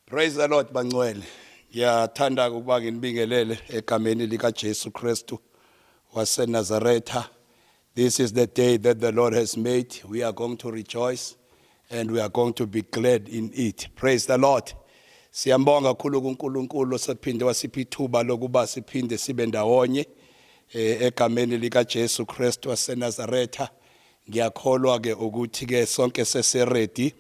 Praise the Lord bangcwele. Ngiyathanda ukuba nginibingelele egameni lika Jesu Kristu wase Nazaretha. This is the day that the Lord has made. We are going to rejoice and we are going to be glad in it praise the lord siyambonga kakhulu kuNkulunkulu osephinde wasipha ithuba lokuba siphinde sibe ndawonye eh, egameni lika Jesu Kristu waseNazaretha ngiyakholwa ke ukuthi ke sonke seseready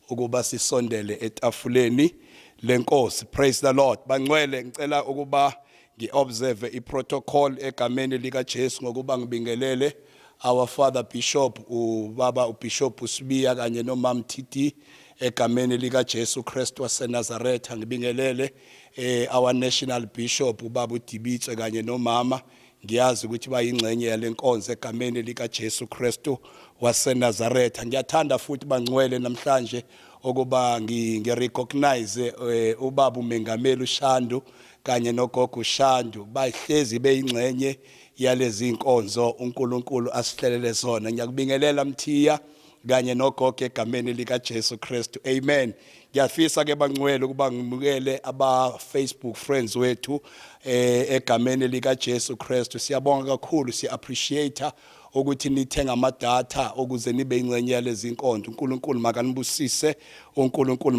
ukuba sisondele etafuleni lenkosi praise the lord bangcwele ngicela ukuba Ngi-observe i-protocol egameni likaJesu ngokuba ngibingelele our father bishop ubaba ubishop uSibiya kanye nomam TT egameni likaJesu Kristu waseNazaretha ngibingelele eh our national bishop ubaba uDibitswe kanye nomama ngiyazi ukuthi bayingxenye yalenkonzo egameni likaJesu Kristu waseNazaretha ngiyathanda futhi bangcwele namhlanje ukuba ngirecognize eh, ubaba uMengameli uShandu kanye nogogo uShandu bahlezi beyingxenye yalezi nkonzo uNkulunkulu asihlelele zona ngiyakubingelela Mthiya kanye nogogo egameni lika Jesu Kristu amen ngiyafisa ke bangcwele ukuba ngimukele aba Facebook friends wethu eh egameni lika Jesu Kristu siyabonga kakhulu siya appreciate ukuthi nithenge ama data ukuze nibe ingcenye yalezi nkonzo uNkulunkulu makanibusise uNkulunkulu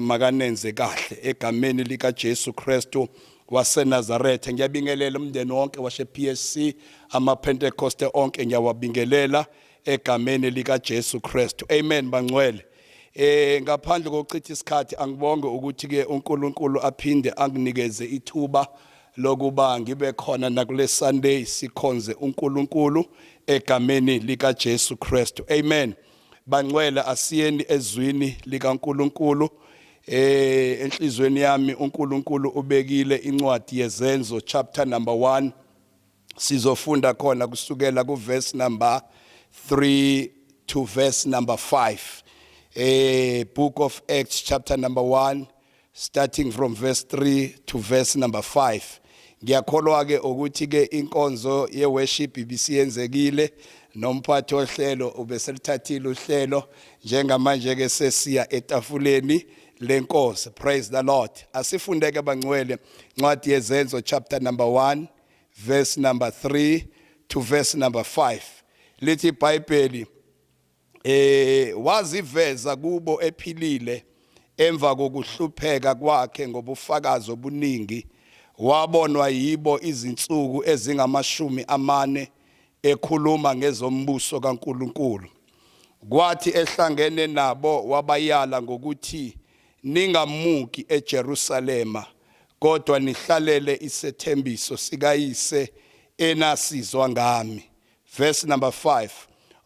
makanenze kahle egameni lika Jesu Kristu waseNazaretha ngiyabingelela umndeni wonke washe PSC ama Pentecoste onke ngiyawabingelela egameni lika Jesu Kristu amen bangcwele eh ngaphandle kokuchitha isikhathi angibonge ukuthi ke uNkulunkulu aphinde anginikeze ithuba lokuba ngibe khona nakule Sunday sikhonze uNkulunkulu egameni lika Jesu Kristu amen bangcwele asiyeni ezwini lika Nkulunkulu eh enhlizweni yami uNkulunkulu ubekile incwadi yezenzo chapter number 1 Sizofunda khona kusukela ku verse number 3 to verse number 5. Eh book of Acts chapter number 1 starting from verse 3 to verse number 5. Ngiyakholwa ke ukuthi ke inkonzo ye worship ibisiyenzekile nomphathi ohlelo ubeselithathile uhlelo njengamanje ke sesiya etafuleni lenkosi praise the lord asifundeke bangcwele ncwadi yezenzo chapter number 1 verse number 3 to verse number 5 lithi iBhayibheli eh waziveza kubo ephilile emva kokuhlupheka kwakhe ngobufakazi obuningi wabonwa yibo izinsuku ezingamashumi amane ekhuluma ngezombuso kaNkuluNkulu kwathi ehlangene nabo wabayala ngokuthi Ningamuki eJerusalema, kodwa nihlalele isethembiso sikaYise enasizwa ngami. Verse number 5,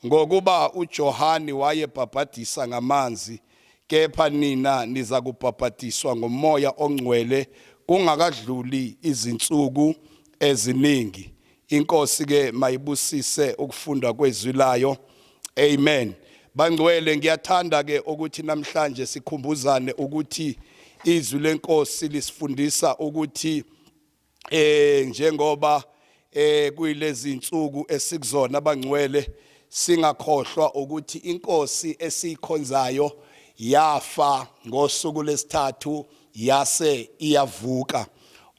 Ngokuba uJohane wayebhabhadisa ngamanzi, kepha nina nizakubhabhadiswa ngoMoya oNgcwele kungakadluli izinsuku eziningi. Inkosi ke mayibusise ukufundwa kwezwi layo. Amen. Bangcwele ngiyathanda ke ukuthi namhlanje sikhumbuzane ukuthi izwi lenkosi lisifundisa ukuthi eh njengoba eh kuyilezi insuku esikuzona abangcwele singakhohlwa ukuthi inkosi esiyikhonzayo yafa ngosuku lesithathu Yase iyavuka.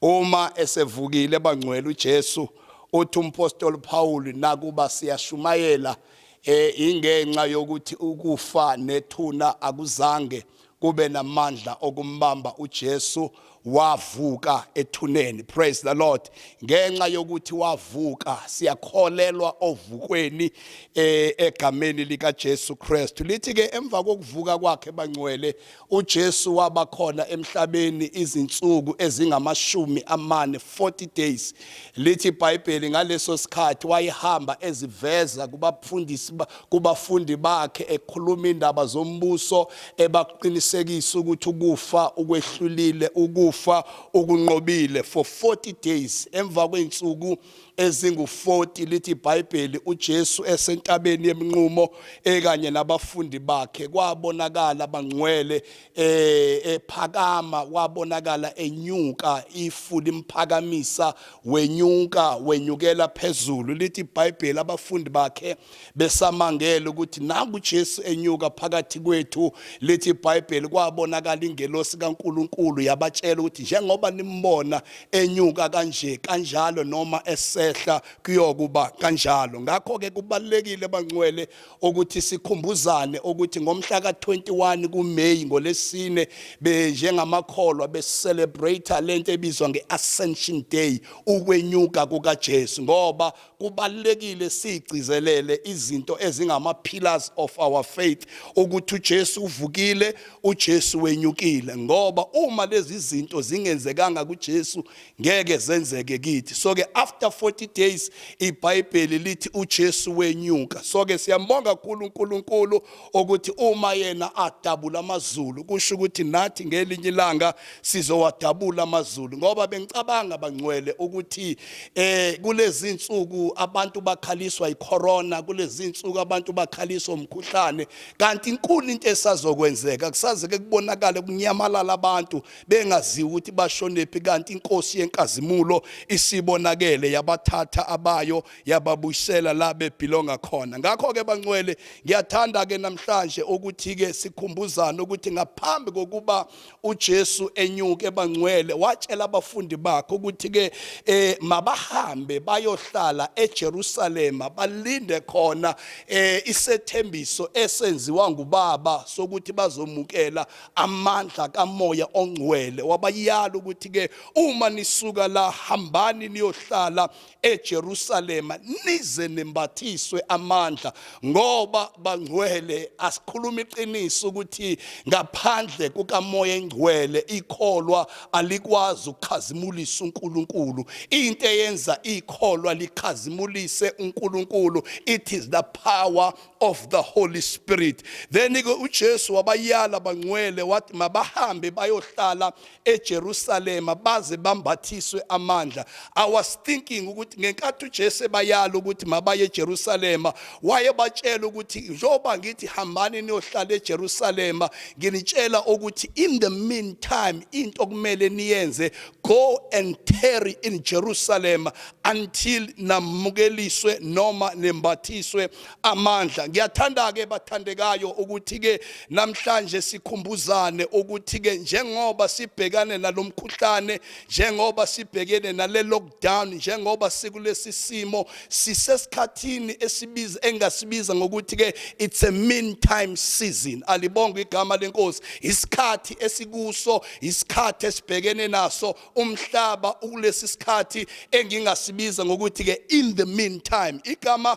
Uma esevukile bangcwele uJesu, uthi umpostoli uPhawuli, nakuba siyashumayela, e, ingenxa yokuthi ukufa nethuna akuzange kube namandla okumbamba uJesu wavuka ethuneni praise the lord ngenxa yokuthi wavuka siyakholelwa ovukweni eh, egameni likaJesu Kristu lithi ke emva kokuvuka kwakhe bangcwele UJesu waba khona emhlabeni izinsuku ezingamashumi amane, 40 days. Lithi iBhayibheli ngaleso sikhathi wayehamba eziveza kubafundisi ba- kubafundi bakhe ekhuluma indaba zombuso ebaqinisekisa ukuthi ukufa ukwehlulile ukufa ukunqobile for 40 days emva kweinsuku ezingu-40 lithi iBhayibheli uJesu esentabeni yeminqumo ekanye nabafundi bakhe kwabonakala bangcwele eh, ephakama wabonakala enyuka ifu limphakamisa wenyuka wenyukela phezulu lithi iBhayibheli abafundi bakhe besamangele ukuthi naku Jesu enyuka phakathi kwethu lithi iBhayibheli kwabonakala ingelosi kaNkuluNkulu yabatshela ukuthi njengoba nimbona enyuka kanje kanjalo noma esehla kuyokuba kanjalo ngakho ke kubalekile bangcwele ukuthi sikhumbuzane ukuthi ngomhla ka21 kuMay ngolesine benjengamakholwa be celebrate lento ebizwa ngeAscension Day ukwenyuka kukaJesu ngoba kubalulekile sigcizelele izinto ezingama pillars of our faith ukuthi uJesu uvukile uJesu wenyukile ngoba uma lezi zinto zingenzekanga kuJesu ngeke zenzeke kithi so ke after 40 days iBhayibheli lithi uJesu wenyuka so ke siyambonga kakhulu uNkulunkulu ukuthi uma yena adabula amazulu kusho ukuthi nathi ngelinye ilanga sizowadabula amazulu ngoba bengicabanga bangcwele ukuthi eh kulezi insuku abantu bakhaliswa icorona kulezi insuku abantu bakhaliswa umkhuhlane kanti inkulu into esazokwenzeka kusaze ke kubonakale kunyamalala abantu bengaziwa ukuthi bashonephi kanti inkosi yenkazimulo isibonakele yabathatha abayo yababuyisela la bebhilonga khona ngakho ke bancwele ngiyathanda ke namhlanje ukuthi ke sikhumbuzana ukuthi ngaphambi kokuba uJesu enyuke bangcwele watshela abafundi bakhe ukuthi ke eh mabahambe bayohlala eJerusalem balinde khona eh isethembiso esenziwa ngubaba sokuthi bazomukela amandla kamoya ongcwele wabayala ukuthi ke uma nisuka la hambani niyohlala eJerusalema nize nembathiswe amandla ngoba bangcwele asikhuluma iqiniso ukuthi ngaphandle kukamoya engcwele ikholwa alikwazi ukukhazimulisa uNkulunkulu into eyenza ikholwa likhazimulise uNkulunkulu it is the power of the holy spirit then ke uJesu wabayala bangcwele wathi mabahambe bayohlala eJerusalema baze bambathiswe amandla. I was thinking ukuthi ngenkathi uJesu ebayala ukuthi mabaye eJerusalema wayebatshela ukuthi njengoba ngithi hambani niyohlala eJerusalema nginitshela ukuthi in the meantime into okumele niyenze go and tarry in Jerusalem until namukeliswe noma nembathiswe amandla ngiyathanda ke bathandekayo ukuthi ke namhlanje sikhumbuzane ukuthi ke njengoba sibhekane nalomkhuhlane njengoba sibhekene nale lockdown njengoba sikulesi simo sisesikhathini esibiza engasibiza ngokuthi ke it's a mean time season alibonga igama lenkosi isikhathi esikuso isikhathi esibhekene naso umhlaba ukulesi sikhathi engingasibiza ngokuthi ke in the meantime igama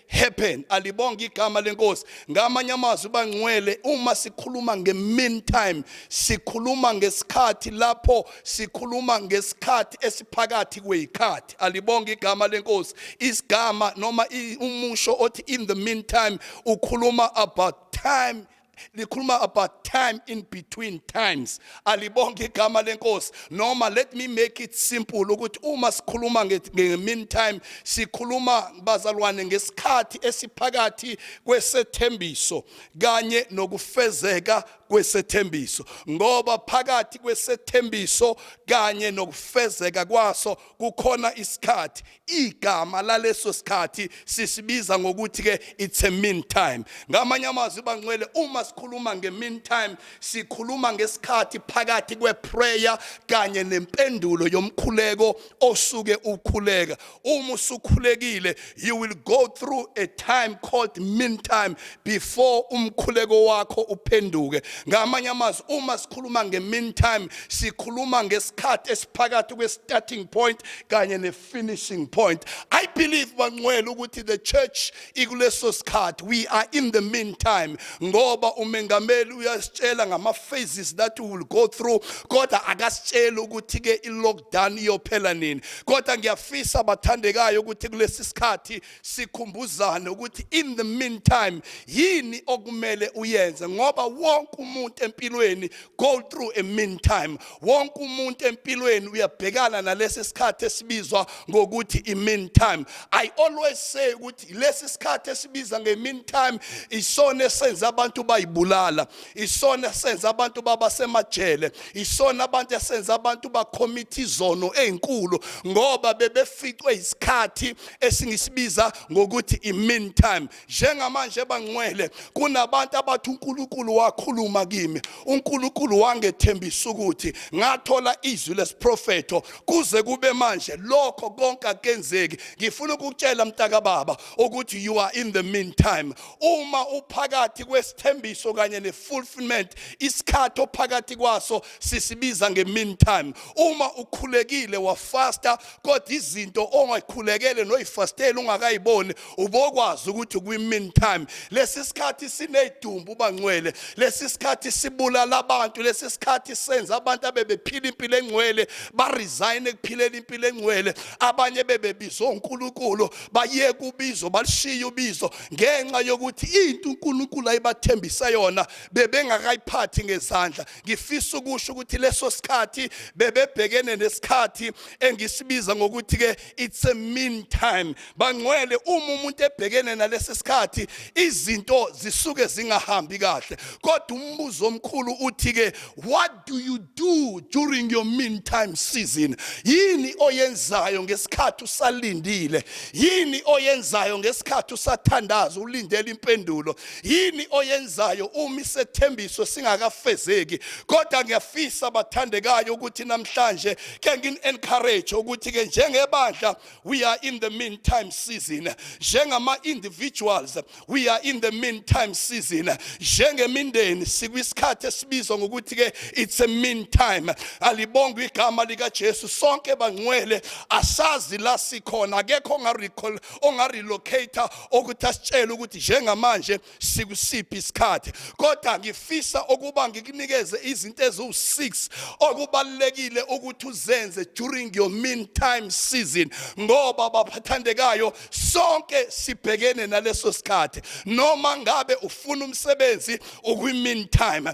happen alibonga igama lenkosi ngamanye amazwi bangcwele uma sikhuluma nge meantime sikhuluma ngesikhathi lapho sikhuluma ngesikhathi esiphakathi kweyikhathi alibonga igama lenkosi isigama noma umusho othi in the meantime ukhuluma about time likhuluma about time in between times alibonke igama lenkosi noma let me make it simple ukuthi uma sikhuluma nge-meantime sikhuluma bazalwane ngesikhathi esiphakathi kwesethembiso kanye nokufezeka kwesethembiso ngoba phakathi kwesethembiso kanye nokufezeka kwaso kukhona isikhathi igama laleso sikhathi sisibiza ngokuthi ke it's a mean time ngamanye amazwi bangcwele uma sikhuluma nge mean time sikhuluma ngesikhathi phakathi kwe prayer kanye nempendulo yomkhuleko osuke ukhuleka uma usukhulekile you will go through a time called mean time before umkhuleko wakho uphenduke ngamanye amazwi uma sikhuluma nge-meantime sikhuluma ngesikhathi esiphakathi kwe-starting point kanye ne-finishing point i believe bangcwele ukuthi the church ikuleso sikhathi we are in the meantime ngoba umengameli uyasitshela ngama-phases that we will go through kodwa akasitsheli ukuthi-ke i-lockdown iyophela nini kodwa ngiyafisa bathandekayo ukuthi kulesi sikhathi sikhumbuzane ukuthi in the meantime yini okumele uyenze ngoba wonke umuntu empilweni go through a meantime wonke umuntu empilweni uyabhekana nalesi sikhathi esibizwa ngokuthi i meantime i always say ukuthi lesi sikhathi esibiza nge meantime isona esenza abantu bayibulala isona esenza abantu baba semajele isona abantu esenza abantu bakhomitha izono ezinkulu ngoba bebeficwe isikhathi esingisibiza ngokuthi i-mean time njengamanje bangcwele kunabantu abathi uNkulunkulu wakhuluma kimi uNkulunkulu wangethembisa ukuthi ngathola izwi lesiprofeto kuze kube manje lokho konke akenzeki ngifuna ukukutshela mntaka baba ukuthi you are in the mean time uma uphakathi kwesithembiso kanye ne-fulfillment isikhathi ophakathi kwaso sisibiza nge-mean time uma ukhulekile wafasta kodwa izinto ongakhulekele noyifastele ungakayiboni ubokwazi ukuthi kwi mean time lesi sikhathi sinedumbu ubangcwele lesi sikhathi sibulala abantu lesi sikhathi senza abantu abebephila impilo engcwele ba resign ekuphileni impilo engcwele abanye bebebizwa uNkulunkulu baye kubizo balishiya ubizo ngenxa yokuthi into uNkulunkulu ayibathembisa yona bebengakayiphathi ngezandla ngifisa ukusho ukuthi leso sikhathi bebebhekene nesikhathi engisibiza ngokuthi ke it's a mean time bangcwele uma umuntu ebhekene nalesi sikhathi izinto zisuke zingahambi kahle kodwa umbuzo omkhulu uthi ke what do you do during your mean time season yini oyenzayo ngesikhathi usalindile yini oyenzayo ngesikhathi usathandaza ulindele impendulo Yini oyenzayo uma isethembiso singakafezeki? Kodwa ngiyafisa bathandekayo ukuthi namhlanje ke ngin encourage ukuthi ke njengebandla we are in the meantime season. Njengama individuals we are in the meantime season. Njengemindeni sikwisikhathi esibizwa ngokuthi ke it's a meantime. Alibongwe igama lika Jesu sonke bangcwele asazi la sikhona akekho onga recall onga relocate ukuthi asitshele ukuthi njengamanje sikusiphi isikhathi kodwa ngifisa ukuba ngikunikeze izinto eziwu-6 okubalulekile ukuthi uzenze during your mean time season ngoba baphathandekayo sonke sibhekene naleso sikhathi noma ngabe ufuna umsebenzi ukwi-mean time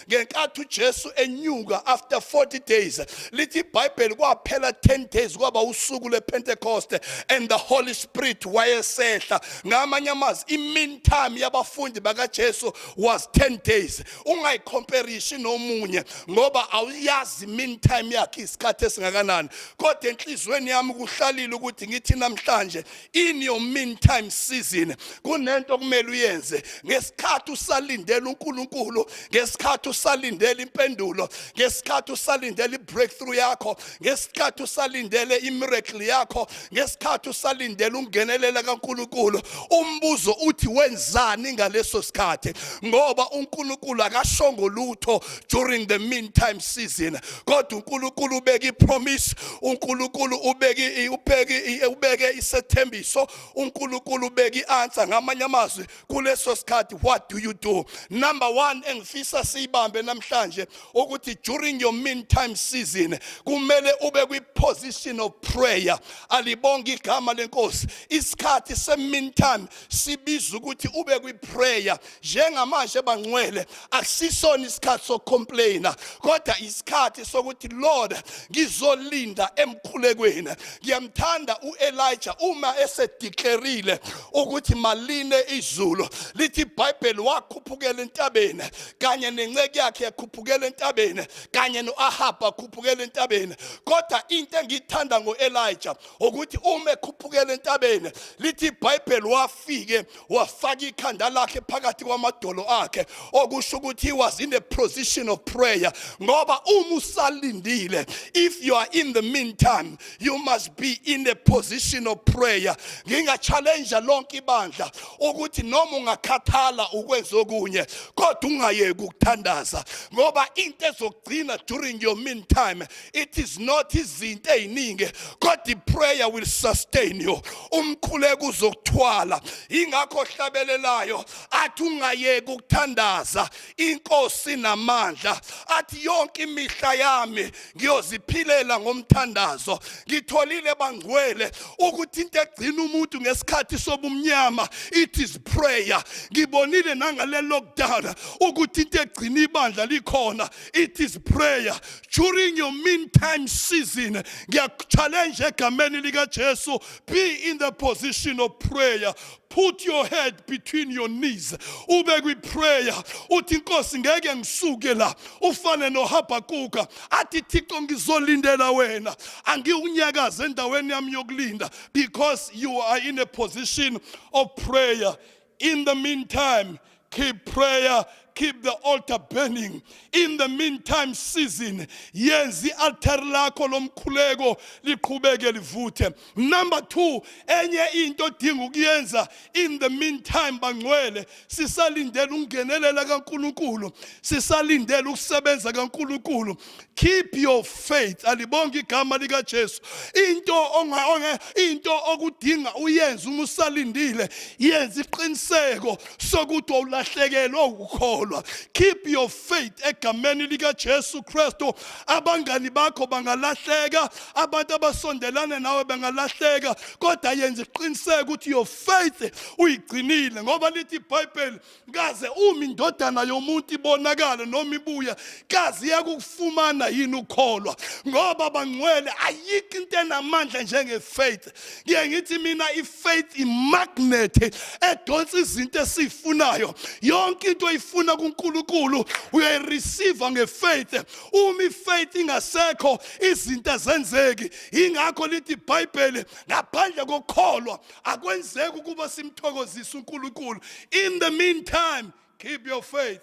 ngenkathi uJesu enyuka after 40 days lithi iBhayibheli kwaphela 10 days kwaba usuku lePentecost and the Holy Spirit wayesehla ngamanye amazwi imean time yabafundi bakaJesu was 10 days ungayicomparishi nomunye ngoba awuyazi mean time yakhe isikhathi esingakanani kodwa enhlizweni yami kuhlalile ukuthi ngithi namhlanje in your meantime season kunento okumele uyenze ngesikhathi usalindela uNkulunkulu ngesikhathi usalindela impendulo ngesikhathi usalindela ibreakthrough yakho ngesikhathi usalindele imiracle yakho ngesikhathi usalindela ungenelela kaNkulunkulu umbuzo uthi wenzani ngaleso sikhathi ngoba uNkulunkulu akashongo lutho during the meantime season kodwa uNkulunkulu ubeke ipromise uNkulunkulu ubeke ubeke ubeke isethembiso uNkulunkulu ubeke ianswer ngamanye amazwi kuleso sikhathi what do you do number 1 engifisa siyibambe namhlanje ukuthi during your meantime season kumele ube kwi position of prayer alibonga igama lenkosi isikhathi se meantime sibiza ukuthi ube kwi prayer njengamanje bangcwele akusisona isikhathi sokucomplaina kodwa isikhathi sokuthi lord ngizolinda emkhulekweni ngiyamthanda uelija uma esediklerile ukuthi maline izulu lithi ibhayibheli wakhuphukela entabeni kanye nenceke yakhe yakhuphukela entabeni kanye noahaba akhuphukela entabeni kodwa into engiyithanda ngoelija ukuthi uma ekhuphukela entabeni lithi ibhayibheli wafike wafaka ikhanda lakhe phakathi kwamadolo akhe okusho ukuthi he was in a position of prayer ngoba uma usalindile if you are in the meantime you must be in a position of prayer ngingachallenge lonke ibandla ukuthi noma ungakhathala ukwenza okunye kodwa ungayeki ukuthandaza ngoba into ezokugcina during your meantime it is not izinto eziningi kodwa iprayer will sustain you umkhuleko uzokuthwala ingakho ohlabelelayo athi ungayeki ukuthandaza inkosi namandla athi yonke imihla yami ngiyoziphilela ngomthandazo ngitholile bangcwele ukuthi into egcina umuntu ngesikhathi sobumnyama it is prayer ngibonile nangale lockdown ukuthi into egcina ibandla likhona It is prayer during your meantime season. Ngiyakuchallenge egameni lika Jesu. Be in the position of prayer. Put your head between your knees. Ube kwi prayer. Uthi Nkosi ngeke ngisuke la. Ufane no Habakuka. Athi Thixo ngizolindela wena. Angiwunyakaze endaweni yami yokulinda because you are in a position of prayer. In the meantime, keep prayer keep the altar burning in the meantime season yenza i-altar lakho lomkhuleko liqhubeke livuthe number 2 enye into odinga ukuyenza in the meantime bangcwele sisalindele ungenelela kaNkuluNkulu sisalindele ukusebenza kaNkuluNkulu keep your faith alibonge igama lika Jesu into onga into okudinga uyenze uma usalindile yenza iqiniseko sokuthi awulahlekelwe ukukholwa keep your faith egameni lika Jesu Kristo abangani bakho bangalahleka abantu abasondelane nawe bangalahleka kodwa yenza iqiniseko ukuthi your faith uyigcinile ngoba lithi iBhayibheli kaze uma indodana yomuntu ibonakala noma ibuya kaze iyakufumana yini ukukholwa ngoba bangcwele ayikho into enamandla njengefaith ngiye ngithi mina ifaith imagnet edonsa izinto esifunayo yonke into oyifuna kuNkulunkulu uyayireceive ngefaith uma ifaith ingasekho izinto azenzeki ingakho lithi iBhayibheli ngaphandle kokukholwa akwenzeki ukuba simthokozise uNkulunkulu in the meantime keep your faith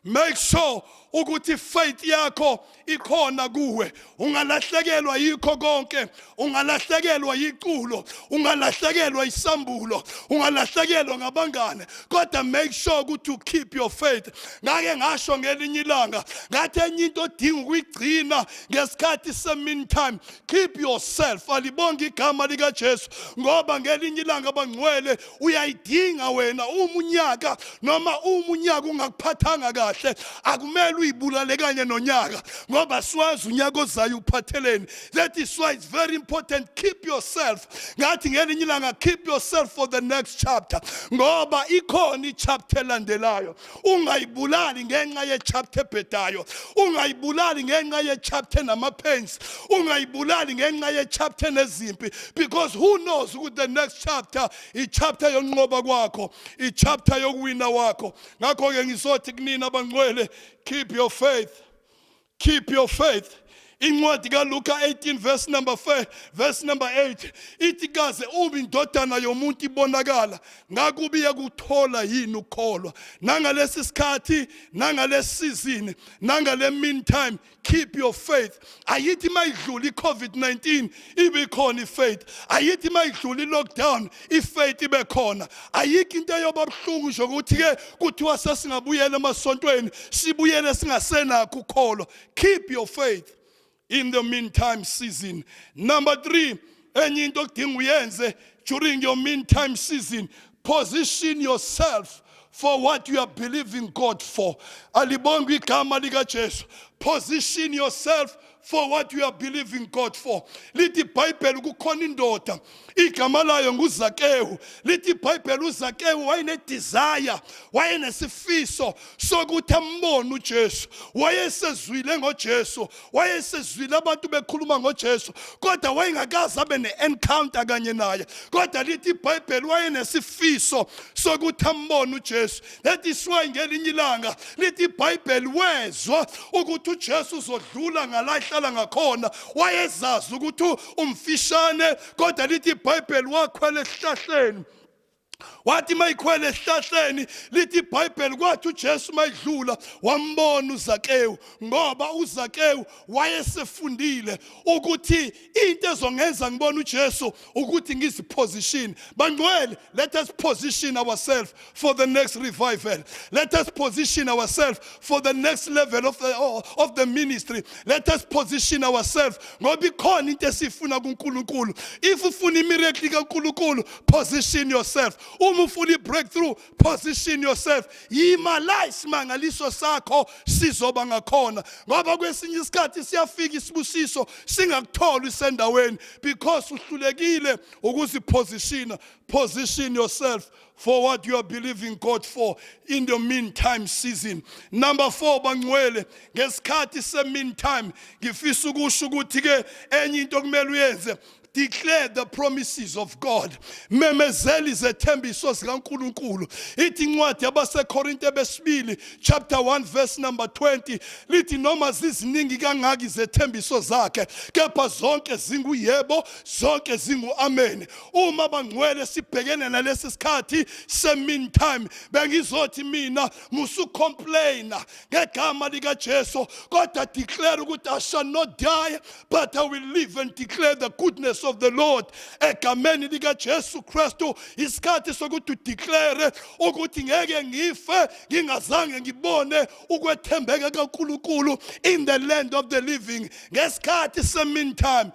make sure ukuthi faith yakho ikhona kuwe ungalahlekelwa yikho konke ungalahlekelwa yiculo ungalahlekelwa isambulo ungalahlekelwa ngabangane kodwa make sure ukuthi you keep your faith ngake ngasho ngelinye ilanga ngathi enye into odinga ukuyigcina ngesikhathi semini time keep yourself alibonge igama likaJesu ngoba ngelinye ilanga bangcwele uyayidinga wena uma unyaka noma uma unyaka ungakuphathanga kahle akumele uyibulale kanye nonyaka ngoba siwazi unyaka ozayo uphatheleni that is why it's very important keep yourself ngathi ngelinye ilanga keep yourself for the next chapter ngoba ikhona ichapter elandelayo ungayibulali ngenxa yechapter ebhedayo ungayibulali ngenxa yechapter enamapains ungayibulali ngenxa yechapter enezimpi because who knows ukuthi the next chapter ichapter yonqoba kwakho ichapter yokuwina wakho ngakho-ke ngizothi kunina abangcwele keep your faith Keep your faith. Incwadi kaLuka 18 verse number 4 verse number 8 ithi kaze ubi indodana yomuntu ibonakala ngakubi yakuthola yini ukukholwa nangalesi sikhathi nangalesi season nangale meantime keep your faith ayithi mayidlula iCovid-19 ibikhona ifaith ayithi mayidlula ilockdown ifaith ibe khona ayikho into eyoba buhlungu nje ukuthi ke kuthiwa sesingabuyela emasontweni sibuyele singasenakho ukholwa keep your faith in the meantime season number 3 enye into okudinga uyenze during your meantime season position yourself for what you are believing God for alibonga igama lika Jesu position yourself for what you are believing God for lithi ibhayibheli kukhona indoda igama layo nguzakewu lithi ibhayibheli uzakewu wayenedesire wayenesifiso sokuthi ambone ujesu wayesezwile ngojesu wayesezwile abantu bekhuluma ngojesu kodwa wayengakaze abe ne-encounter kanye naye kodwa lithi ibhayibheli wayenesifiso sokuthi ambone ujesu That is why ngelinye ilanga lithi iBhayibheli wezwa ukuthi uJesu uzodlula ngala ehlala ngakhona wayezazi ukuthi umfishane kodwa lithi iBhayibheli wakhwela esihlahleni wathi mayikhwele esihlahleni lithi ibhayibheli kwathi ujesu mayidlula wambona uzakewu ngoba uzakewu wayesefundile ukuthi into ezongenza ngibone uJesu ukuthi ngiziposition bangcwele let us position ourselves for the next revival let us position ourselves for the next level of the, of the ministry let us position ourselves ngoba ikhona into esifuna kuNkulunkulu if ufuna imiracle kaNkulunkulu position yourself uma ufuna ibreakthrough position yourself yima la isimangaliso sakho sizoba ngakhona ngoba kwesinye isikhathi siyafika isibusiso singakutholi isendaweni because uhlulekile ukuzipositiona position yourself for what you are believing God for in the meantime season. Number 4 bangcwele ngesikhathi se meantime ngifisa ukusho ukuthi ke enye into okumele uyenze declare the promises of God memezela izethembiso zikaNkuluNkulu ithi incwadi yabaseKorinte besibili chapter 1 verse number 20 lithi noma ziziningi kangaka izethembiso zakhe kepha zonke zinguyebo zonke zinguamen uma bangcwele sibhekene nalesi sikhathi semin time bengizothi mina musucomplaina ngegama likaJesu kodwa declare ukuthi I shall not die but I will live and declare the goodness of the Lord egameni lika Jesu Kristu isikhathi sokuthi udeclare ukuthi ngeke ngife ngingazange ngibone ukwethembeka kaNkulunkulu in the land of the living ngesikhathi se meantime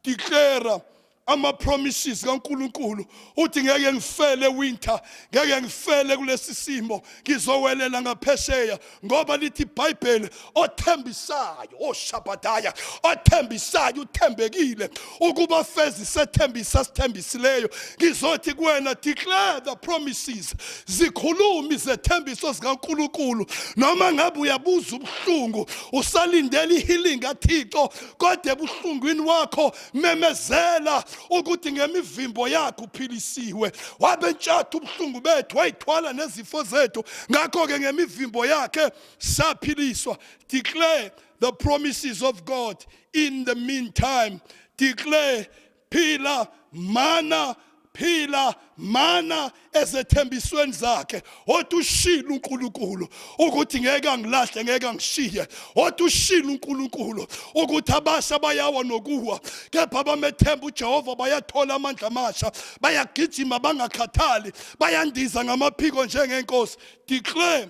declare ama promises kaNkuluNkulu uthi ngeke ngifele winter ngeke ngifele kulesi simo ngizowelela ngaphesheya ngoba lithi iBhayibheli othembisayo oshabadaya oh, othembisayo uthembekile ukuba fezi sethembisa sithembisileyo ngizothi kuwena declare the promises zikhulumi zethembiso zikaNkuluNkulu noma ngabe uyabuza ubuhlungu usalindele ihealing kaThixo kodwa ebuhlungwini wakho memezela ukuthi ngemivimbo yakhe uphilisiwe wabentshatha ubuhlungu bethu wayithwala nezifo zethu ngakho-ke ngemivimbo yakhe saphiliswa declare the promises of god in the meantime declare phila mana phila mana ezethembisweni zakhe othi ushilo uNkulunkulu ukuthi ngeke angilahle ngeke angishiye othi ushilo uNkulunkulu ukuthi abasha bayawa nokuwa kepha abamethemba uJehova bayathola amandla amasha bayagijima bangakhathali bayandiza ngamaphiko njengenkosi declare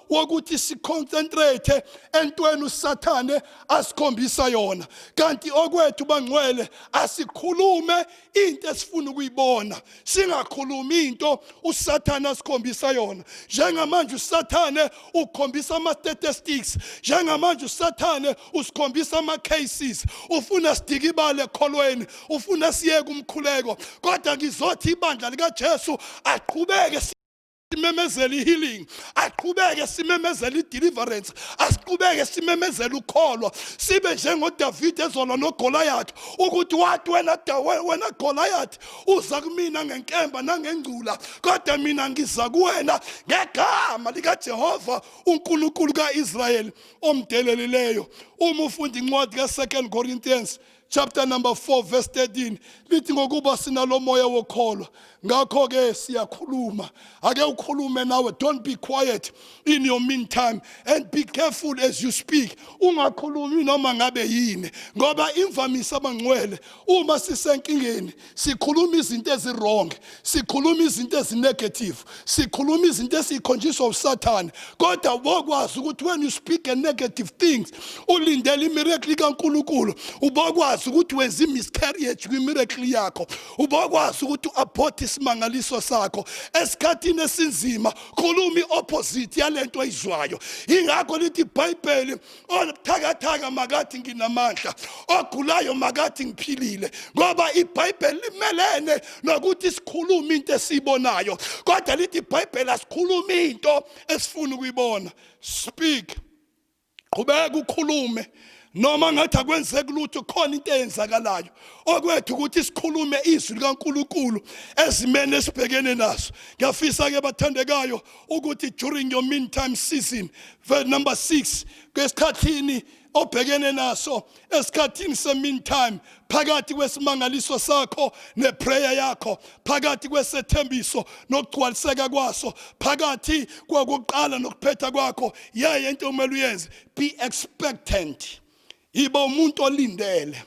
wokuthi siconcentrate entweni usathane asikhombisa yona kanti okwethu bangcwele asikhulume into esifuna ukuyibona singakhulumi into usathane asikhombisa yona njengamanje usathane ukhombisa ama statistics njengamanje usathane usikhombisa ama cases ufuna sidike ibale ekholweni ufuna siyeke umkhuleko kodwa ngizothi ibandla lika Jesu aqhubeke simemezela i-healing aqhubeke simemezela i-deliverance asiqhubeke simemezela ukholo sibe njengodavide ezolwa nogolayathi ukuthi wathi wena wena golayathi uza kumina ngenkemba nangengcula kodwa mina ngiza kuwena ngegama likajehova unkulunkulu ka-israyeli omdelelileyo uma ufunda incwadi ka-second corinthians chapter number 4 verse 13 lithi ngokuba sinalomoya wokholwa ngakho ke siyakhuluma ake ukhulume nawe don't be quiet in your meantime and be careful as you speak ungakhulumi noma ngabe yini ngoba imvamisa abangcwele uma sisenkingeni sikhuluma izinto ezirong sikhuluma izinto ezinegative sikhuluma izinto esikhonjiswa usathane kodwa ubokwazi ukuthi when you speak a negative things ulindele imiracle kaNkuluNkulu ubokwazi ukuthi wenza imiscarriage kwimiracle yakho ubokwazi ukuthi uabort isimangaliso sakho esikhathini esinzima khuluma iopposite yalento oyizwayo ingakho lithi iBhayibheli obuthakathaka makathi nginamandla ogulayo makathi ngiphilile ngoba ibhayibheli limelene nokuthi sikhulume into esiyibonayo kodwa lithi ibhayibheli asikhulume into esifuna ukuyibona speak qhubeka ukhulume noma ngathi akwenzeki lutho khona into eyenzakalayo okwethu ukuthi sikhulume izwi likaNkuluNkulu ezimene esibhekene naso ngiyafisa ke bathandekayo ukuthi during your mean time season verse number 6 kwesikhathini obhekene naso esikhathini semean time phakathi kwesimangaliso sakho neprayer yakho phakathi kwesethembiso nokugcwaliseka kwaso phakathi kwakuqala nokuphetha kwakho yaye into okumele uyenze be expectant Yiba umuntu olindele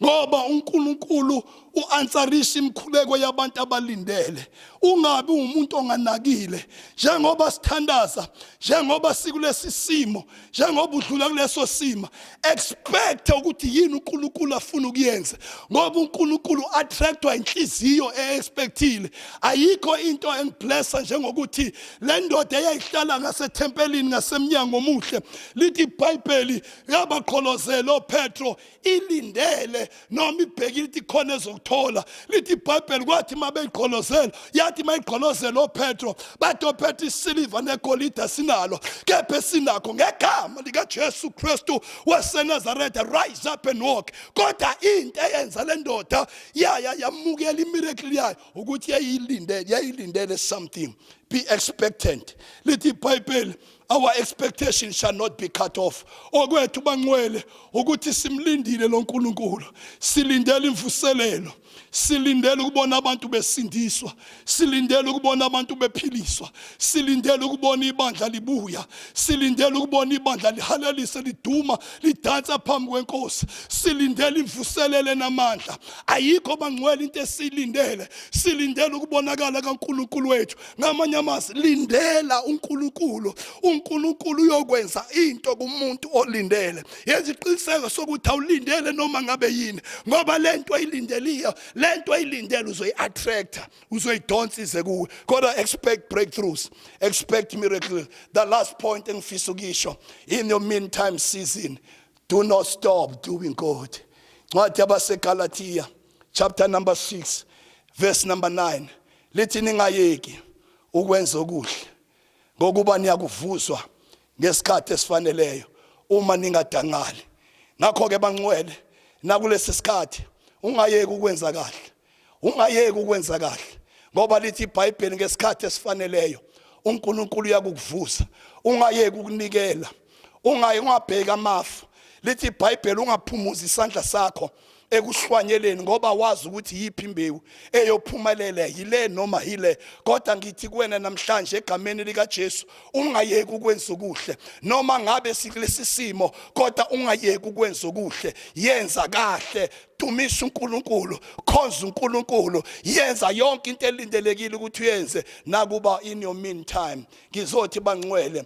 ngoba uNkulunkulu uanswerisa imikhuleko yabantu abalindele ungabi umuntu onganakile njengoba sithandaza njengoba sikulesi simo njengoba udlula kuleso sima expect ukuthi yini uNkulunkulu afuna ukuyenza ngoba uNkulunkulu attractwa inhliziyo eexpectile ayikho into engiblessa njengokuthi le ndoda eyayihlala ngasethempelini ngasemnyango omuhle lithi iBhayibheli yabaqholozela opetro ilindele noma ibhekile ithi khona ezokuthola lithi ibhayibheli kwathi uma beyiqholozela yathi uma iqholozela opetro bathi opetro isiliva negolide asinalo kepha esinakho ngegama likajesu kristu wasenazaretha rise up and walk kodwa into eyenza le ndoda yaya yamukela imirekli yayo ukuthi yayilindele yayilindele something be expectant lithi ibhayibheli Our expectation shall not be cut off. Okwethu bangcwele ukuthi simlindile lo Nkulunkulu. Silindele imvuselelo. Silindele ukubona abantu besindiswa. Silindele ukubona abantu bephiliswa. Silindele ukubona ibandla libuya. Silindele ukubona ibandla lihalalise liduma lidansa phambi kwenkosi. Silindele imvuselele namandla. Ayikho bangcwele into esilindele. Silindele ukubonakala kaNkulunkulu wethu. ngamanye amazwi lindela uNkulunkulu uNkulunkulu uyokwenza into kumuntu olindele yenza iqiniseko sokuthi awulindele noma ngabe yini ngoba lento ayilindeliyo lento ayilindele uzoyiattractor uzoyidonsa ize kuwe kodwa expect breakthroughs expect miracles the last point engifisa ukisho in your meantime season do not stop doing good ncwadi yabasegalatiya chapter number 6 verse number 9 Lithi ningayeki ukwenza okuhle ngokuba niyakuvuswa ngesikhathi esifaneleyo uma ningadangali. Ngakho-ke bangcwele nakulesi sikhathi ungayeki ukwenza kahle, ungayeki ukwenza kahle ngoba lithi iBhayibheli ngesikhathi esifaneleyo uNkulunkulu uyakukuvusa, ungayeki ukunikela. ungayi ungabheki amafu lithi ibhayibheli ungaphumuza isandla sakho ekuhlwanyeleni ngoba wazi ukuthi yiphi imbewu eyophumelela yile noma yile kodwa ngithi kuwena namhlanje egameni likaJesu ungayeki ukwenza okuhle noma ngabe sikulesi simo kodwa ungayeki ukwenza okuhle yenza kahle dumisa uNkulunkulu khonza uNkulunkulu yenza yonke into elindelekile ukuthi uyenze nakuba in your meantime ngizothi bangcwele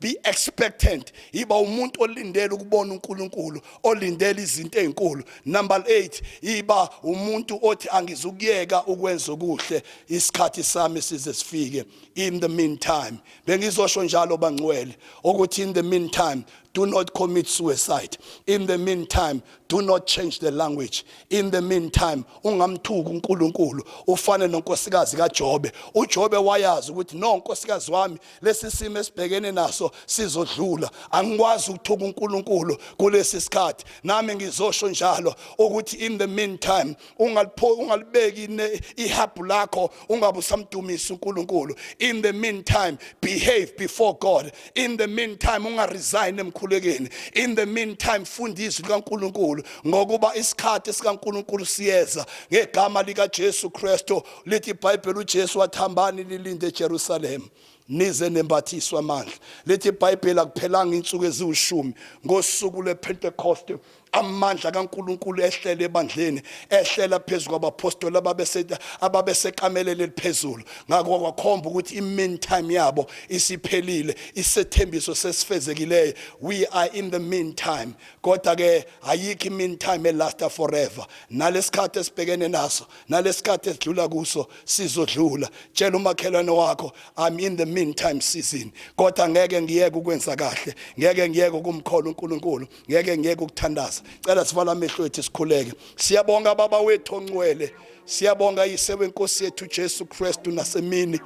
be expectant yiba umuntu olindele ukubona uNkulunkulu olindele izinto ezinkulu number 8 yiba umuntu othi angizukuyeka ukwenza okuhle isikhathi sami size sifike in the meantime bengizosho njalo bangcwele ukuthi in the meantime do not commit suicide in the meantime do not change the language in the meantime ungamthuki uNkulunkulu ufane nonkosikazi kaJobe uJobe wayazi ukuthi no nkosikazi wami lesi simo esibhekene naso sizodlula angikwazi ukuthuka uNkulunkulu kulesi sikhathi nami ngizosho njalo ukuthi in the meantime ungalipho ungalibeki ihabhu lakho ungabusamdumisa uNkulunkulu in the meantime behave before God in the meantime ungaresign emkhulekeni in the meantime funda izwi likaNkulunkulu ngokuba isikhathi sikaNkulunkulu siyeza ngegama likaJesu Kristu Lithi iBhayibheli uJesu wathambani lilinde eJerusalema nize nembathiswa amandla lithi ibhayibheli akuphelanga insuku eziwushumi ngosuku lepentecost amandla kaNkuluNkulu ehlele ebandleni ehlela phezulu kwabaphostoli ababeseta ababesekamelele eliphezulu ngakho kwakhomba ukuthi imin time yabo isiphelile isethembiso sesifezekileyo we are in the mean time kodwa ke ayikho imin time elasta forever nalesikhathi esibhekene naso nalesikhathi esidlula kuso sizodlula tshela umakhelwane wakho i'm in the meantime season kodwa ngeke ngiyeke ukwenza kahle ngeke ngiyeke ukumkhola uNkulunkulu ngeke ngiyeke ukuthandaza cela sivala amehlo ethu sikhuleke siyabonga baba wethu ongcwele siyabonga yise wenkosi yethu Jesu Kristu nasemini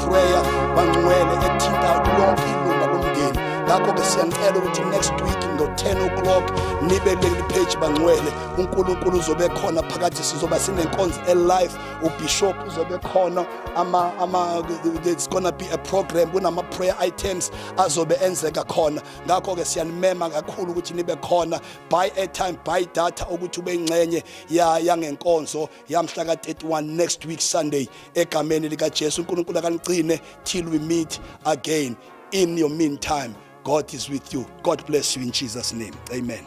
Freya Bangcwele ethinta lonke ilunga lomndeni ngakho-ke siyanicela ukuthi next week ngo-10 o'clock nibe kuleli page bangcwele unkulunkulu uzobe khona phakathi sizoba sinenkonzo elive ubishop uzobe khona ama, ama, it's gonna be a program kunama-prayer items azobe enzeka khona ngakho-ke siyanimema kakhulu ukuthi nibe khona buy airtime buy data ukuthi ube ingxenye yangenkonzo yamhla ka-31 next week sunday egameni likajesu unkulunkulu akanigcine till we meet again in your meantime god is with you god bless you in jesus name amen